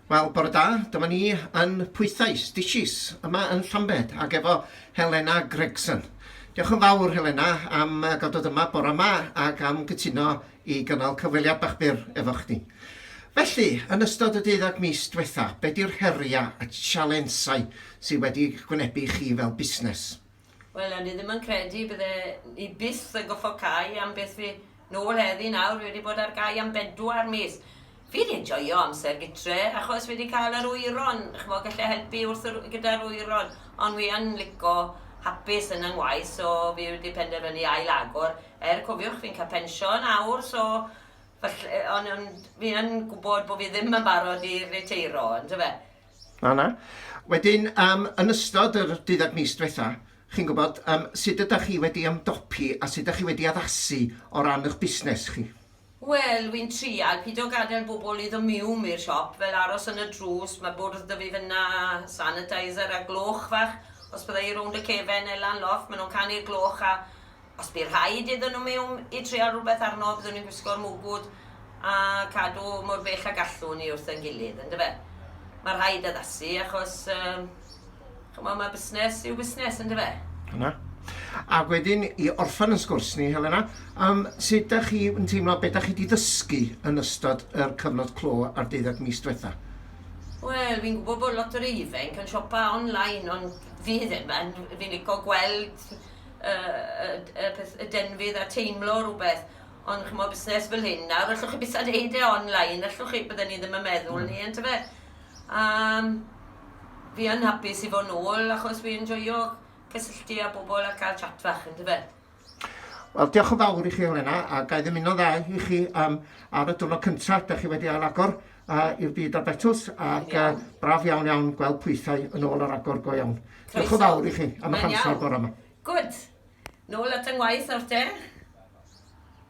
Wel, bore da, dyma ni yn Pwythau, Stitches, yma yn Llambed, ac efo Helena Gregson. Diolch yn fawr, Helena, am gael dod yma bore yma ac am gytuno i gynnal cyfweliad bach byr efo chdi. Felly, yn ystod y deuddag mis diwetha, be di'r heriau a sialensau sydd wedi gwynebu chi fel busnes? Wel o'n i ddim yn credu bydde i byth yn goffo cau am beth fi nôl heddi nawr fi wedi bod ar gau am bedwar mis. Fi wedi joio amser gytre achos fi wedi cael yr wyron ch'mo' gallai helpu wrth yr gyda'r wyron ond fi yn lico hapus yn 'y ngwaith so fi wedi penderfynu ail agor er cofiwch fi'n cael pensiwn awr so falle o'n o'n fi yn gwbod bo fi ddim yn barod i riteiro yndyfe? Na, na. Wedyn, um, yn ystod yr dyddag mis diwetha, chi'n gwybod, um, sut ydych chi wedi ymdopi a sut ydych chi wedi addasu o ran eich busnes chi? Wel, wy'n trial pido gadael bobl i ddymum i'r siop, fel aros yn y drws, mae bwrdd 'da fi fynna, sanitizer a gloch fach, os bydda i rownd y cefen neu lan loff, maen nhw'n canu'r gloch a Os bu rhaid iddyn nhw miwn i trial rhywbeth arno, fyddwn ni'n gwisgo'r mwgwd a cadw mor bell a gallwn ni wrth ein gilydd, yn dyfe? Mae rhaid addasu achos, um, chymod, mae busnes yw busnes, yn dyfe? Yna. A wedyn, i orffen yn sgwrs ni, Helena, um, sut da chi yn teimlo, beth da chi wedi ddysgu yn ystod yr cyfnod clo a'r deuddeg mis diwetha? Wel, fi'n gwybod bod lot o'r ifanc yn siopa online, ond fi ddim yn. Fi'n licio gweld y, y, y, peth, y denfydd a teimlo rhywbeth. Ond chmo busnes fel hyn nawr, allwch chi beth a'n neud e online, allwch chi, bydden ni ddim yn meddwl ni, yn tyfe. Um, fi yn hapus i fod yn ôl, achos fi'n joio cysylltu â bobl a cael chat fach, yn tyfe. Wel, diolch yn fawr i chi, Elena, a gael ddim un o dda i chi um, ar y diwrnod cyntaf, da chi wedi ail agor. uh, i'r byd a Betws ac uh, braf iawn iawn gweld pwythau yn ôl ar agor go iawn. Diolch yn fawr i chi am eich amser bore yma. Good. Nôl at yng ngwaith nawr te.